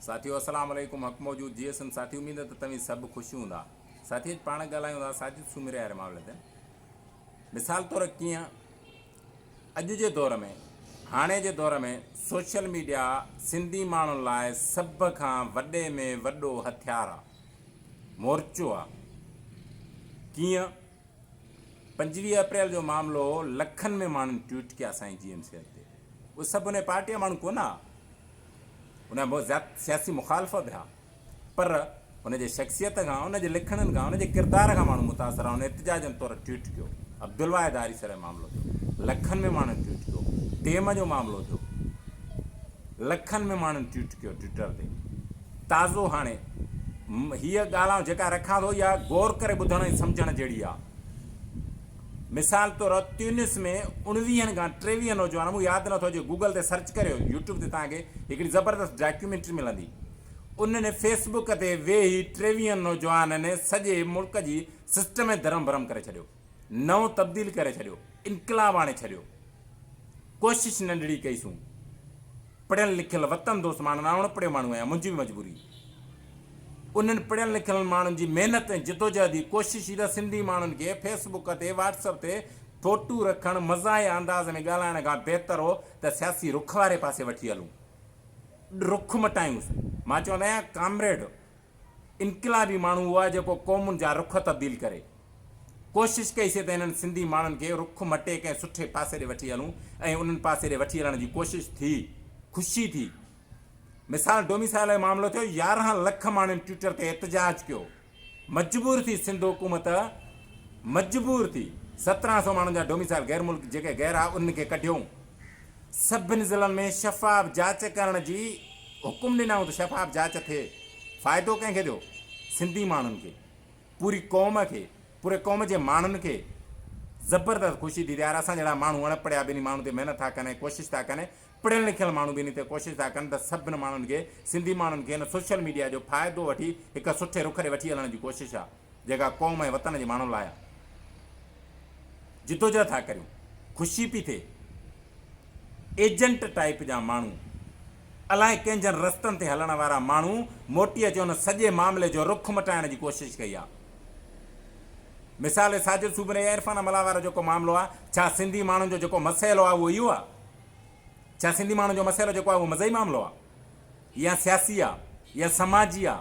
ساٿيو السلام عليڪم حق موجود جي سن ساٿي اميد ته توهين سڀ خوش هوندا ساٿي اڄ پاڻ ڳالهايون ٿا ساجد سومري واري معاملي تي مثال طور ڪيئن اڄ جي دور ۾ هاڻي جي دور ۾ سوشل ميڊيا سنڌي ماڻهن لاء سڀ کان وڏي ۾ وڏو هٿيار آ مورچو آ ڪيئن پنجويهه اپريل جو معاملو هو لکن ۾ ماڻهن ٽوئيٽ ڪيا سائين جي ايم صحت تي اهي سڀ انهي پارٽي جا ماڻهو ڪونه ها انهن بهت زياد سياسي مخالف به ها پر ان جي شخصيت کان ان جي لکڻن کان ان جي ڪردار کان ماڻهو متاثر ها انهن احتجاجن طور ٽوئيٽ ڪيو عبدالواحد آريسر جو معاملو ٿيو لکن ۾ ماڻهن ٽوئيٽ ڪيو ٽيم جو معاملو ٿيو لکن ۾ ماڻهن ٽوئيٽ ڪيو ٽوئيٽر تي تازو هاڻي هيء ڳالهه آئون جيڪا رکان ٿو اها غور ڪري ٻڌڻ ۽ سمجهڻ جهڙي آهي. مثال طور تيونس ۾ اڻويهن کان ٽيويهه نوجوان مون ياد نه ٿو اچي گوگل تي سرچ ڪريو يوٽيوب تي توهان کي هڪڙي زبردست ڊاڪيومينٽري ملندي انهن فيسبوڪ تي ويهي ٽيويهن نوجوانن سڄي ملڪ جي سسٽم ۾ ڌرم ڀرم ڪري ڇڏيو. نئون تبديل ڪري ڇڏيو، انقلاب آڻي ڇڏيو. ڪوشش ننڍڙي ڪئي سون. پڙهيل لکيل وطن دوست ماڻهن، آئون اڻپڙهيو ماڻهو آهيان، منهنجي به مجبوري. انهن پڙهيل لکيل ماڻهن جي محنت ۽ جدوجهد ئي ڪوشش ئي ته سنڌي ماڻهن کي فيس بڪ تي واٽس اپ تي ڦوٽو رکڻ، مزاحيه انداز ۾ ڳالهائڻ کان بهتر هو ته سياسي رخ واري پاسي وٺي هلون. رخ مٽايونس. مان چوندو آهيان ڪامريڊ انقلابي ماڻهو اهو آهي جيڪو قومن جا رخ تبديل ڪري. ڪوشش ڪئي سي ته انهن سنڌي ماڻهن کي رخ مٽي ڪنهن سٺي پاسي ڏي وٺي هلون ۽ انهن پاسي ڏي وٺي هلڻ جي ڪوشش ٿي، خوشي ٿي. مثال ڊوميسائيل جو معاملو ٿيو، يارهن لک ماڻهن ٽوئيٽر تي احتجاج ڪيو، مجبور ٿي سنڌ حڪومت مجبور ٿي سترهن سؤ ماڻهن جا ڊوميسائيل غير ملڪ جيڪي غير آ انهن کي ڪڍيائون، سڀني ضلعن ۾ شفاف جاچ ڪرڻ جي حڪم ڏنائون ته شفاف جاچ ٿئي، فائدو ڪنهن کي ٿيو؟ سنڌي ماڻهن کي. پوري قوم کي پوري قوم جي ماڻهن کي زبردست خوشي ٿي ٿئي يار اسان جهڙا ماڻهو اڻ پڙهيا به انهي ماڻهو تي محنت ٿا ڪن ۽ ڪوشش ٿا ڪن پڙهيل لکيل ماڻهو به انهي تي ڪوشش ٿا ڪن ته سڀن ماڻهن کي سنڌي ماڻهن کي هن سوشل ميڊيا جو فائدو وٺي هڪ سٺي رخ ڏي وٺي هلڻ جي ڪوشش آ جيڪا قوم ۽ وطن جي ماڻهن لاء آ جدوجهد ٿا ڪريون خوشي پي ٿئي. ايجنٽ ٽائيپ جا ماڻهو، الائي ڪنهن جن رستن تي هلڻ وارا ماڻهو موٽي اچي ان سڄي معاملي جو رخ مٽائڻ جي ڪوشش ڪئي آ. مثال ساجد سومري يا عرفان ملاح وارو جيڪو معاملو آ، ڇا سنڌي ماڻهن جو جيڪو مسئلو آ اهو اهو آ؟ ڇا سنڌي ماڻهن جو مسئلو جيڪو آ اهو مذهبي معاملو آ يا سياسي آ يا سماجي آ؟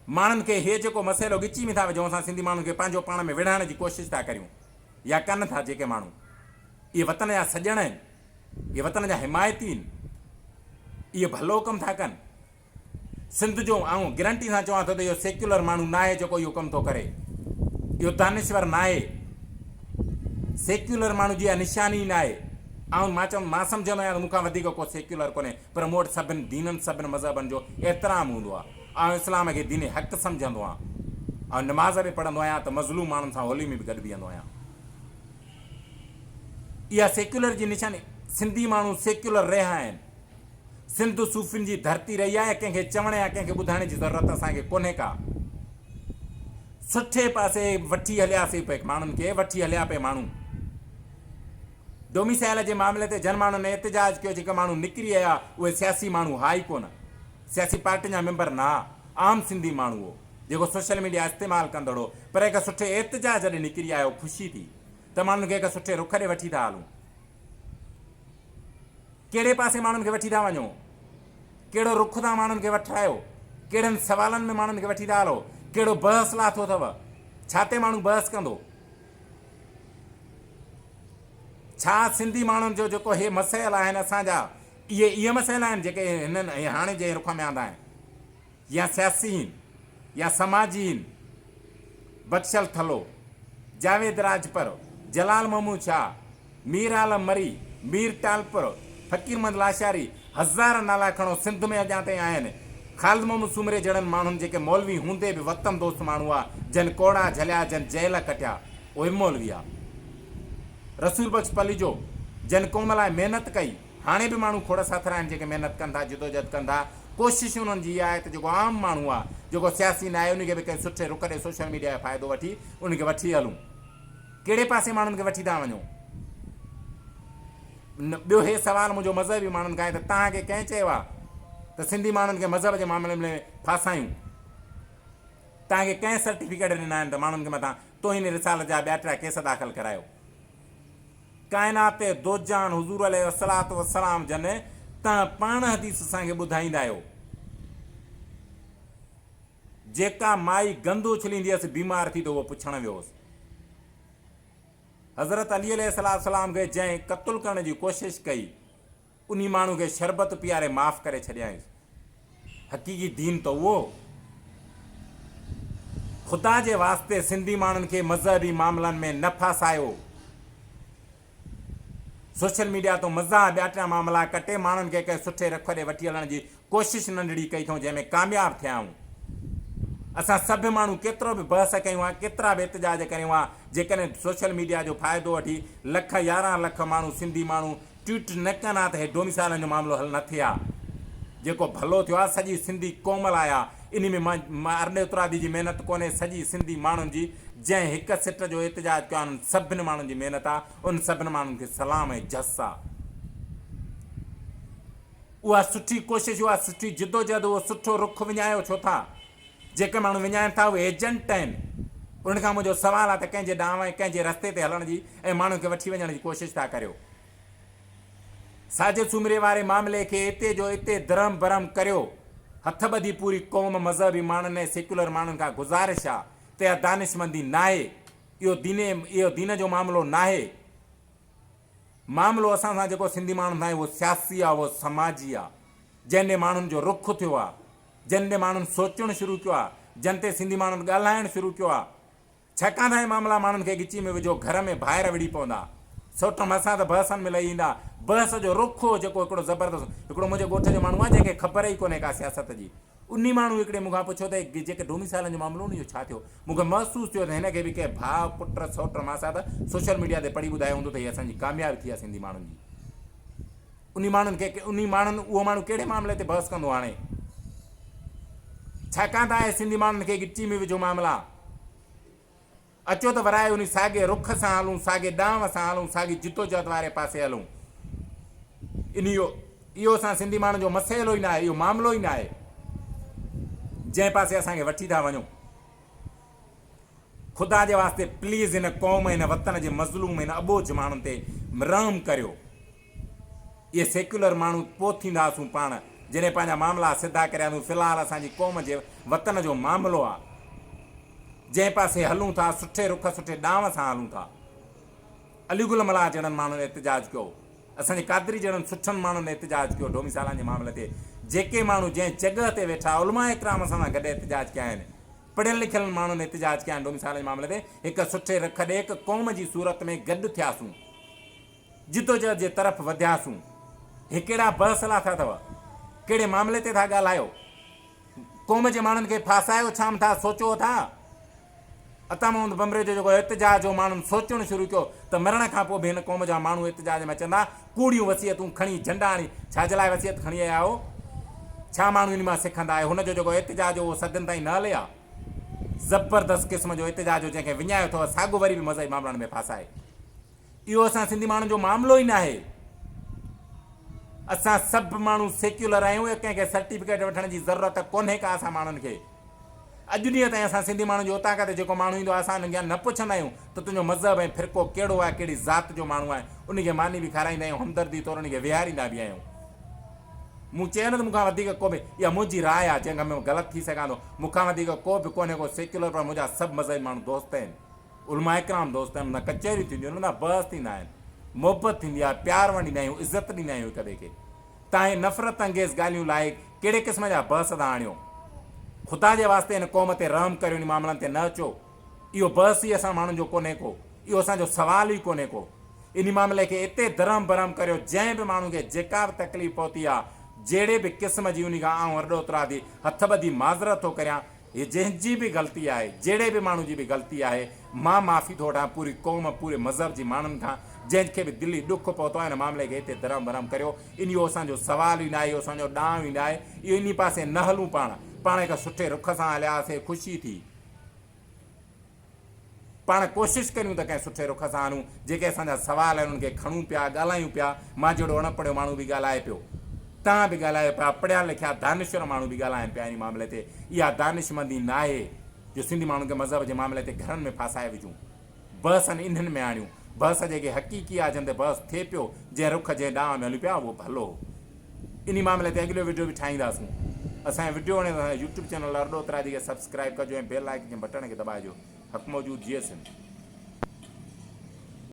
ماڻهن کي هي جيڪو مسئلو ڳچي ۾ ٿا وجهون اسان سنڌي ماڻهن کي پنهنجو پاڻ ۾ وڙهائڻ جي ڪوشش ٿا ڪريون يا ڪن ٿا جيڪي ماڻهو اهي وطن جا سڄڻ آهن اهي وطن جا حمايتي آهن اهي ڀلو ڪم ٿا ڪن سنڌ جو آئون گرنٽي سان چوان ٿو ته اهو سيڪيولر ماڻهو نه آهي جيڪو اهو ڪم ٿو ڪري اهو دانشور نه آهي سيڪيولر ماڻهو جي اها نشاني نه آهي آئون مان چوان مان سمجهندو آهيان ته مون کان وڌيڪ ڪو سيڪيولر ڪونهي پر مون وٽ سڀن دينن سڀن مذهبن جو احترام هوندو آهي آئون اسلام کي دين حق سمجهندو آهيان. آئون نماز به پڙهندو آهيان ته مظلوم ماڻهن سان هولي ۾ به گڏ بيهندو آهيان. اها سيڪيولر جي نشاني سنڌي ماڻهو سيڪيولر رهيا آهن. سنڌ صوفين جي ڌرتي رهي آهي ڪنهن کي چوڻ يا ڪنهن کي ٻڌائڻ جي ضرورت اسان کي ڪونهي ڪا. سٺي پاسي وٺي هلياسي پئي ماڻهن کي وٺي هليا پئي ماڻهو. ڊوميسائيل جي معاملي تي جن ماڻهن احتجاج ڪيو جيڪي ماڻهو نڪري آيا اهي سياسي ماڻهو هئا ئي ڪونه. سياسي پارٽين جا ميمبر نه عام سنڌي ماڻهو هو جيڪو سوشل ميڊيا استعمال ڪندڙ هو پر هڪ سٺي احتجاج ڏي نڪري آيو خوشي ٿي ته ماڻهن کي هڪ سٺي رخ ڏي وٺي ٿا هلون ڪهڙي پاسي ماڻهن کي وٺي ٿا وڃو ڪهڙو رخ تان ماڻهن کي وٺرايو ڪهڙن سوالن ۾ ماڻهن کي وٺي ٿا هلو ڪهڙو بحث لاٿو اٿو ڇا تي ماڻهو بحث ڪندو ڇا سنڌي ماڻهن جو جيڪو هي مسائل آهن اسان جا اهي اهي مسئلا آهن جيڪي هنن ۽ هاڻي جنهن رخ ۾ آندا آهن يا سياسي هين يا سماجي هين بخشل ٿلهو، جاويد راڄپر، جلال محمود شاهه، مير عالم مري، مير ٽالپر، فقير محمد لاشاري هزار نالا کڻو سنڌ ۾ اڄان تائين آهن، خالد محمد سومري جهڙن ماڻهن جيڪي مولوي هوندي به وطن دوست ماڻهو هئا جن ڪوڙها جهليا جن جيل ڪٽيا اهي به مولوي هئا، رسول بخش پليجو جن قوم لاء محنت ڪئي، هاڻي به ماڻهو کوڙ ساٿر آهن جيڪي محنت ڪن ٿا، جدوجهد ڪن ٿا، ڪوشش انهن جي اها آهي ته جيڪو عام ماڻهو آهي، جيڪو سياسي ناهي ان کي به ڪنهن سٺي رخ ڏئي سوشل ميڊيا جو فائدو وٺي ان کي وٺي هلون. ڪهڙي پاسي ماڻهن کي وٺي ٿا وڃو؟ ٻيو هي سوال منهنجو مذهبي ماڻهن کان آهي ته توهان کي ڪنهن چيو آهي ته سنڌي ماڻهن کي مذهب جي معاملي ۾ ڦاسايون؟ توهان کي ڪنهن سرٽيفڪيٽ ڏنا آهن ته ماڻهن کي مٿان توهين رسالت جا ٻيا ٽيا ڪيس داخل ڪرايو؟ ڪائنات دوجان حضور عليه الصلوة والسلام جن تنهن پاڻ حديث اسان کي ٻڌائيندا آهيو جيڪا مائي گند اڇليندي هيس بيمار ٿي ته اهو پڇڻ ويو هوس حضرت علي عليه الصلوة والسلام کي جنهن قتل ڪرڻ جي ڪوشش ڪئي انهي ماڻهو کي شربت پياري معاف ڪري ڇڏيائينس. حقيقي دين ته اهو هو. خدا جي واسطي سنڌي ماڻهن کي مذهبي معاملن ۾ نه ڦاسايو. سوشل ميڊيا تون مذاح ٻياٽيا معاملا ڪٽي ماڻهن کي ڪنهن سٺي رخ ڏي وٺي هلڻ جي ڪوشش ننڍڙي ڪئي ٿئون جنهن ۾ ڪامياب ٿيا آهون. اسان سڀ ماڻهو ڪيترو به بحث ڪيون ها ڪيترا به احتجاج ڪريون ها جيڪڏهن سوشل ميڊيا جو فائدو وٺي لک يارهن لک ماڻهو سنڌي ماڻهو ٽوئيٽ نه ڪن ها ته هي ڊوميسائيلن جو معاملو حل نه ٿئي ها. جيڪو ڀلو ٿيو آهي سڄي سنڌي قوم لاء آهي. انهي ۾ مان ارڏي اترادي جي محنت ڪونهي سڄي سنڌي ماڻهن جي جنهن هڪ سٽ جو احتجاج ڪيو آهي انهن سڀني ماڻهن جي محنت آهي انهن سڀني ماڻهن کي سلام ۽ جس آهي. اها سٺي ڪوشش اها سٺي جدوجهد اهو سٺو رخ وڃايو ڇو ٿا. جيڪي ماڻهو وڃائين ٿا اهي ايجنٽ آهن، انهن کان منهنجو سوال آهي ته ڪنهن جي ڏانهن ۽ ڪنهن جي رستي تي هلڻ جي ۽ ماڻهن کي وٺي وڃڻ جي ڪوشش ٿا ڪريو. ساجد سومري واري معاملي کي اتي جو اتي درهم برهم ڪريو، هٿ ٻڌي پوري قوم مذهبي ماڻهن ۽ سيڪيولر ماڻهن کان گذارش آهي ته اها دانشمندي ناهي، اهو دين اهو دين جو معاملو ناهي، معاملو اسان سان جيڪو سنڌي ماڻهن سان آهي اهو سياسي آهي اهو سماجي آهي جنهن ڏي ماڻهن جو رخ ٿيو آهي. جن تي ماڻهن سوچڻ شروع ڪيو آهي، جن تي سنڌي ماڻهن ڳالهائڻ شروع ڪيو آهي، ڇاڪاڻ ته اهي معاملا ماڻهن کي ڳچي ۾ وجهو گهر ۾ ڀائر وڙهي پوندا. سوٽ مهسان ته بحثن ۾ لهي ايندا. بحث جو رخ هو جيڪو هڪڙو زبردست هڪڙو منهنجي ڳوٺ جو ماڻهو آهي جنهن کي خبر ئي ڪونهي ڪا سياست جي. انهي ماڻهو هڪڙي مون کان پڇيو ته هي جيڪي ڊوميسائيلن جو معاملو هو نه اهو ڇا ٿيو؟ مون کي محسوس ٿيو ته هن کي به ڪنهن ڀاء، پٽ، سوٽ، ماسات سوشل ميڊيا تي پڙهي ٻڌايو هوندو ته هي اسان جي ڪاميابي ٿي آهي سنڌي ماڻهن جي. انهي ماڻهن کي انهي ماڻهن اهو ماڻهو ڪهڙي معاملي تي بحث ڪندو هاڻي ڇاڪاڻ ته آهي سنڌي ماڻهن کي ڳچي ۾ وجهو معاملا اچو ته ورائي انهي ساڳي رخ سان هلون ساڳي ڏانء سان هلون ساڳي جدوجهد واري پاسي هلون انهي اهو اسان سنڌي ماڻهن جو مسئلو ئي نه آهي اهو معاملو ئي نه آهي جنهن پاسي اسان کي وٺي ٿا وڃو خدا جي واسطي پليز هن قوم هن وطن جي مظلوم هن اٻوجهه ماڻهن تي رحم ڪريو اهي سيڪيولر ماڻهو پوء ٿيندا اسون پاڻ جڏهن پنهنجا معاملا سڌا ڪرياسون في الحال اسان جي قوم جي وطن جو معاملو آ جنهن پاسي هلون ٿا سٺي رخ سٺي ڏانء سان هلون ٿا علي گل ملاح جهڙن ماڻهن احتجاج ڪيو اسان جي قادري جهڙن سٺن ماڻهن احتجاج ڪيو ڊوميسالان جي معاملي تي جيڪي ماڻهو جنهن جڳهه تي ويٺا علماء ڪرام سان گڏ احتجاج ڪيا آهن پڙهيل لکيل ماڻهن احتجاج ڪيا آهن ڊوميسالان جي معاملي تي هڪ سٺي رخ ڏي هڪ قوم جي صورت ۾ گڏ ٿياسون جدوجهد جي طرف وڌياسون. هي ڪهڙا بحث لاٿا اٿو؟ ڪهڙي معاملي تي ٿا ڳالهايو؟ قوم جي ماڻهن کي ڦاسايو ڇام ٿا؟ سوچو اٿا؟ عطا محمد بمري جو جيڪو احتجاج هو، ماڻهن سوچڻ شروع ڪيو ته مرڻ کان پوء به هن قوم جا ماڻهو احتجاج ۾ اچندا، ڪوڙيون وصيتون کڻي جهنڊا آڻي ڇا جي لاء وصيت کڻي آيا هو؟ ڇا ماڻهو انهي مان سکندا؟ اهي هن جو جيڪو احتجاج هو، اهو صدين تائين نه هلي ها. زبردست قسم جو احتجاج هو، جنهن کي وڃايو اٿو، ساڳو وري به مذهبي مامرن ۾ ڦاسائي اهو اسان سنڌي ماڻهن جو معاملو ئي ناهي. اسان سڀ ماڻهو سيڪيولر آهيون ۽ ڪنهن کي سرٽيفڪيٽ وٺڻ جي ضرورت ڪونهي ڪا اسان ماڻهن کي. اڄ ڏينهن تائين اسان سنڌي ماڻهن جو اتان کان ته جيڪو ماڻهو ايندو آهي اسان انکيان نه پڇندا آهيون ته تنهنجو مذهب ۽ فرقو ڪهڙو آهي ڪهڙي ذات جو ماڻهو آهي انهي کي ماني به کارائيندا آهيون همدردي طور انهي کي ويهاريندا به آهيون. مون چيو نه ته مون کان وڌيڪ ڪو به اها منهنجي راء آهي جنهن کان ۾ غلط ٿي سگهان ٿو مون کان وڌيڪ ڪو به ڪونهي ڪو سيڪيولر پر منهنجا سڀ مذهبي ماڻهو دوست آهن. علماء ڪرام دوست آهن، هوندا ڪچهريون ٿينديون آهن، هوندا بحث ٿيندا آهن، محبت ٿيندي آهي، پيار ونڊيندا آهيون، عزت ڏيندا آهيون هڪ ٻئي کي، تان هي نفرت انگيز ڳالهيون لاء ڪهڙي قسم جا بحث ٿا آڻيو؟ خدا جي واسطي هن قوم تي رحم ڪريو انهي معاملن تي نه اچو، اهو بحث ئي اسان ماڻهن جو ڪونهي ڪو، اهو اسان جو سوال ئي ڪونهي ڪو، انهي معاملي کي اتي درهم برهم ڪريو جنهن به ماڻهو کي جيڪا به تڪليف پهتي آ، جهڙي به قسم جي انهي کان آئون ارڏو اترادي هٿ ٻڌي معذرت ٿو ڪريان، هي جنهن جي به غلطي آهي، جهڙي به ماڻهو جي به غلطي آهي، مان معافي ٿو وٺان پوري قوم، پوري مذهب جي ماڻهن کان، جنهن کي به دلي ڏک پهتو آهي ان معاملي کي هتي درهم برهم ڪريو، اهو اسان جو سوال ئي ناهي، اهو اسان جو ڏانء ئي ناهي، اهو انهي پاسي نه هلون پاڻ، پاڻ هڪ سٺي رخ سان هلياسين، خوشي ٿي. پاڻ ڪوشش ڪريون ته ڪنهن سٺي رخ سان هلون. جيڪي اسان جا سوال آهن انهن کي کڻون پيا، ڳالهايون پيا. مان جهڙو اڻ پڙهيو ماڻهو به ڳالهائي پيو. توهان به ڳالهايو پيا. پڙهيا لکيا دانشور ماڻهو به ڳالهائن پيا انهي معاملي تي. اها دانشمندي ناهي جو سنڌي ماڻهن کي مذهب جي معاملي تي گهرن ۾ ڦاسائي وجهون. بحثن انهن ۾ آڻيون. بحث جيڪي حقيقي آهي جنهن تي بحث ٿئي پيو، جنهن رخ جنهن ڏانء ۾ هليون پيا اهو ڀلو. انهي معاملي تي اڳليو وڊيو به ٺاهينداسون اسان جو وڊيو وڻي ته اسان جو يوٽيوب چينل ارڏو اترادي کي سبسڪرائيب ڪجو ۽ بيل آئڪن جي بٽڻ کي دٻائجو حق موجود جئي سنڌ.